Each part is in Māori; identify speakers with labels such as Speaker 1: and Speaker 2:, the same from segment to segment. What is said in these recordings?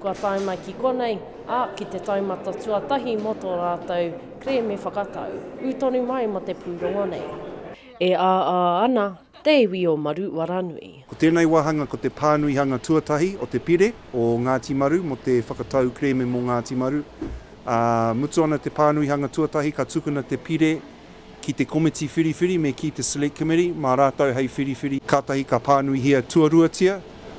Speaker 1: Kua tae mai ki konei, ā, ki te taumata tuatahi mō tō rātou kerēme whakatau. Ū tonu mai mō te pūrongo nei. E āā ana te iwi o Maru-waranui. Ko tēnei wāhanga ko te pānuihanga tuatahi o te pire o Ngāti Maru mō te whakatau kerēme mō Ngāti Maru. Ā, mutu ana te pānuihanga tuatahi ka tukuna te pire. Ki te Komiti Whiriwhiri me ki te Select Committee, mā rātou hei whiriwhiri. Kātahi ka pānuihia tuaruatia,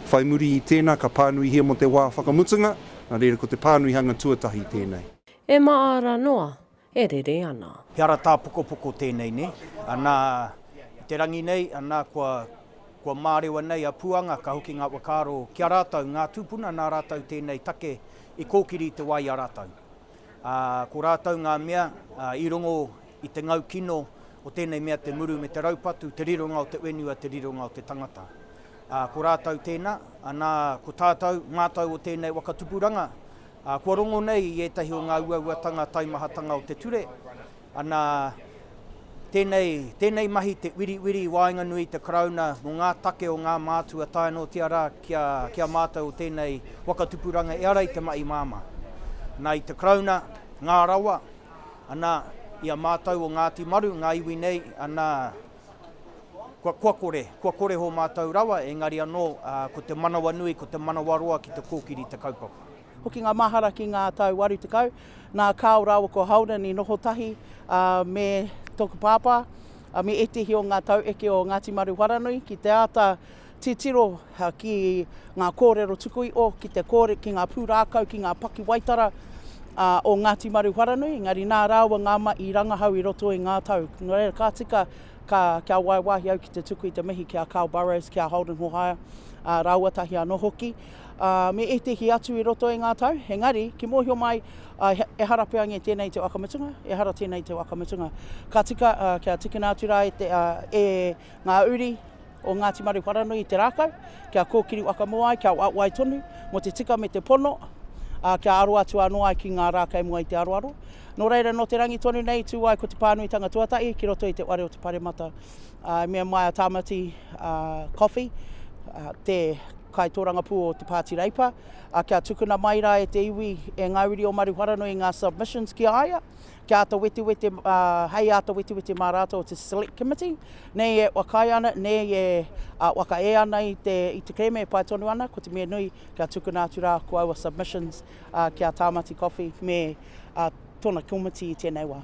Speaker 1: whai muri i tēnā ka pānuihia mō te wā whakamutunga, nā reira ko te pānuihanga tuatahi tēnei. E māra noa, e rere ana. He ara tāpokopoko tēnei nei, anā, i te rangi nei, anā, kua, kua mārewa nei a Puanga, ka hoki ngā whakaaro ki a rātou, ngā tūpuna nā rātou tēnei take i kōkiri i te wā i a rātou. Ā, ko rātou ngā mea i rongo i te ngau kino o tēnei mea te muru me te raupatu, te rironga o te whenua, te rironga o te tangata. Ā, ko rātou tēnā, anā, ko tātou, mātou o tēnei waka tupuranga, ā, kua rongo nei i ētahi o ngā uauatanga taimahatanga o te ture, Ana, tēnei, tēnei mahi te wiriwiri i waenganui i te Karauna mō ngā take o ngā mātua tae noatia rā ki a, ki a mātou o tēnei waka tupuranga e ara i te mahi māmā. Ana, i te Karauna, Ngā Rawa, ana, i a mātou o Ngāti Maru, ngā iwi nei, ana, kua, kua kore, kua kore hō mātou rawa, engari anō, ā, ko te manawanui, ko te manawaroa ki te kōkiri i te kaupapa. Hoki ngā mahara ki ngā tau 80, nā Carl rāua ko Holden i noho tahi me tōku pāpā me ētehi o ngā taueke o Ngāti Maruwharanui ki te āta titiro ki ngā kōrero tuku iho, ki te kōre, ki ngā pūrākau, ki ngā pakiwaitara o Ngāti Maruwharanui, engari nā rāua ngā ma i rangahau i roto i ngā tau. Nō reira, ka tika ka, kia waiwāhi au ki te tuku i te mihi ki a Carl Burrows, ki a Holden Hohaia, rāua tahi anō hoki. me ētehi atu i roto i ngā tau, engari, ki mōhio mai, ehara pea nge tēnei te wakamutunga, ehara tēnei te wakamutunga. Ka tika, kia tikina atu rā e, te, e ngā uri o Ngāti Maru Wharanui i te rākau, kia kōkiri whakamua ai, kia wai tonu mō te tika me te pono, a, kia aro atu anō ai ki ngā rā kei mua i te aroaro. Nō reira, nō te rangi tonu nei, tū ai ko te pānuitanga tuatahi ki roto i te ware o te paremata. ā, me a Maia Tāmati Coffey, te kaitōrangapū o Te Pāti Reipa, ā, kia tukuna mai rā e te iwi, e ngā uri o Maruharanoa ngā submissions ki a ia, kia āta wetewete, ā, hei āta wetewete mā rātou te Select Committee, nei e whakaae ana, nei e whakaea ana i te kerēme e pai tonu ana, ko te mea nui, kia tukuna atu rā ko aua submissions ki a Tāmati Coffey me tōna komiti i tēnei wā.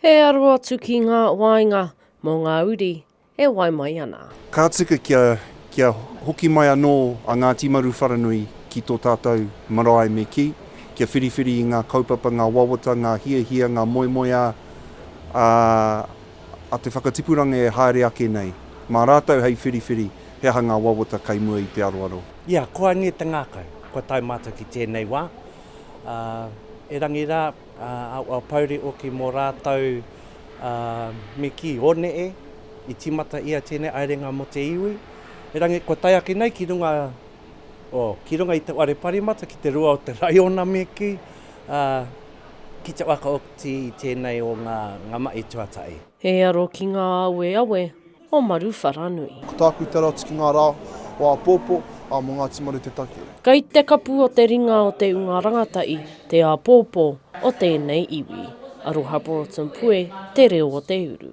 Speaker 1: He aro atu ki ngā waenga mō ngā uri e wai mai ana. Ka tika kia, kia hoki mai anō a Ngāti Maruwharanui ki tō tātou marae me kī, kia whiriwhiri i ngā kaupapa, ngā wawata, ngā hiahia, ngā moemoeā a, a te whakatipuranga e haere ake nei. Mā rātou hei whiriwhiri he aha ngā wawata kei mua i te aroaro. Ia, koa nei te ngākau, kua tae mātou ki tēnei wā, ā, erangi rā, Aua pouri hoki mō rātou me kī, One e, i tīmata ia tēnei aerenga mō te iwi, erangi kua tae ake nei ki runga, o, ki runga i te whare parimata ki te rua o te raiona me kī, ā, ki te waka oti i tēnei o ngā, ngā mahi tuatahi. He aro ki ngā aweawe. o Maruwharanui. Ko tāku te rā tiki ngā rā o āpōpō, ā, mō Ngāti Maru te take. Kei te kapu o te ringa o te Unga Rangatahi te āpōpō o tēnei iwi. Aroha Broughton Pue, Te Reo o te Uru.